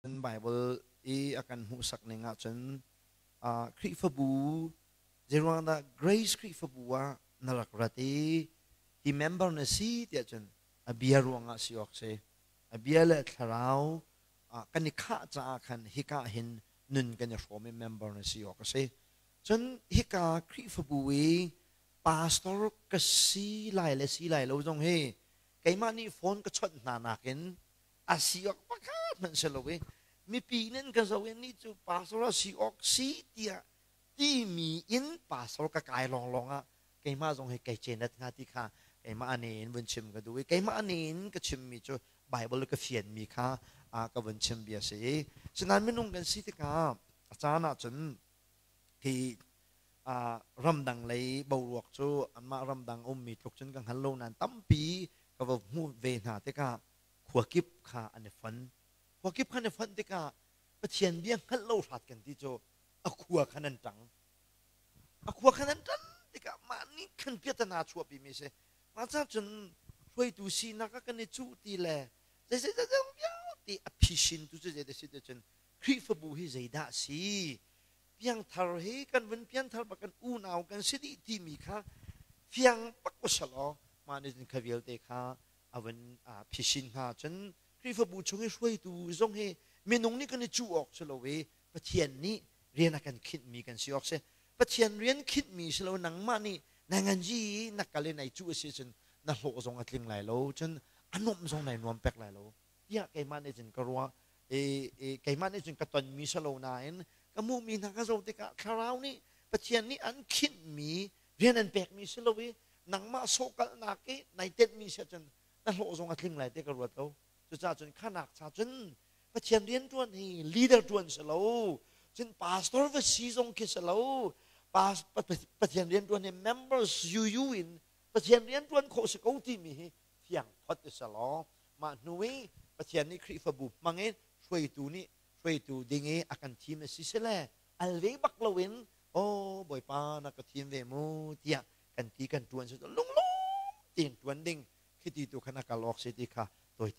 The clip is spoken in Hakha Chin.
Kan Baibal i a kan hmuhsak ning ahcun Khrihfabu zeiruangdah Grace Khrihfabu ah na rak rat i hi member na si tiah cun a bia ruangah si awk si. A bia le thlarau kan i khah caah khan hika hin nun kan i hrawm i member na si awk a si. Cun hika Khrihfabu i pastor ka si lai le si lai lo zong hi keimah nih phone ka chawnh hna nakin a si awk pakhat hmanh si lo i mipi inn in ka zoh i nih cu pastor a si awk si tiah timi in pastor ka kai lawnglawng ah keimah zong hi kei cenet hnga ti kha keimah ne in vun chim ka duh i keimah ne in ka chimmi cu Baibal ka fianmi kha ka vun chim bia si i sinain minung kan si tikah a caan ah cun hi ramdang lei boruak cu anmah ramdang ummi tluk cun ka hngal lo nain tampi ka va hmuh ve hna tikah khua kip kha an i fon. Khua kip khan i fonh tikah Pathian bia hngalh lo hrat kan ti cu a khua khan an ṭang. A khua khan an ṭan tikah mah nih khan piatana a chuahpimi a si. Mah caah cun hruaitu sinak ah kan i cuh ti le zei zei zei vialte a phishintu cu zeidah si cun Khrihfabu hi zeidah a si? Piangthar hi kan vun pianthar bak kan unau kan si dih timi kha fiang bak usalaw mah nih cun kha vialte kha a van phisin hna cun Khrihfabu chung i hruaitu zong hi minung nih kan i cuh awk si lo i Pathian nih rian a kan khinhmi kan si awk si. Pathian rian khinhmi si lo nangmah nih nai nganzi i na kal i nai cuh a si cun na hlawh zong a tling lai lo, cun a nuamh zong nai nuam pek lai lo tiah keimah nih cun ka ruah i keimah nih cun ka tonmi si lo nain ka hmuhmi hna ka zoh tikah thlarau nih Pathian nih an khinhmi rian an pekmi si lo i nangmah sawhkalhnak i nai tenhmi si ahcun na hlawh zong a tling lai ti ka ruat lo. Cucaahcun kha nak cha cun Pathian rianṭuan hi leader ṭuan si lo, cun pastor va si zong khi si lo, Pathian rianṭuan hi members UU in Pathian rianṭuan khawh si ko timi hi thiangthawt a si law mah hnu i Pathian nih Khrihfabu hmang in hruaitu nih hruaitu ding i a kan thim a si sile al ve bak loin aw bawipa na ka thim ve mu tiah kan ti kan ṭuan cu lunglawm tein ṭuan ding khi ti tu khan a kal awk si ti kha tawi te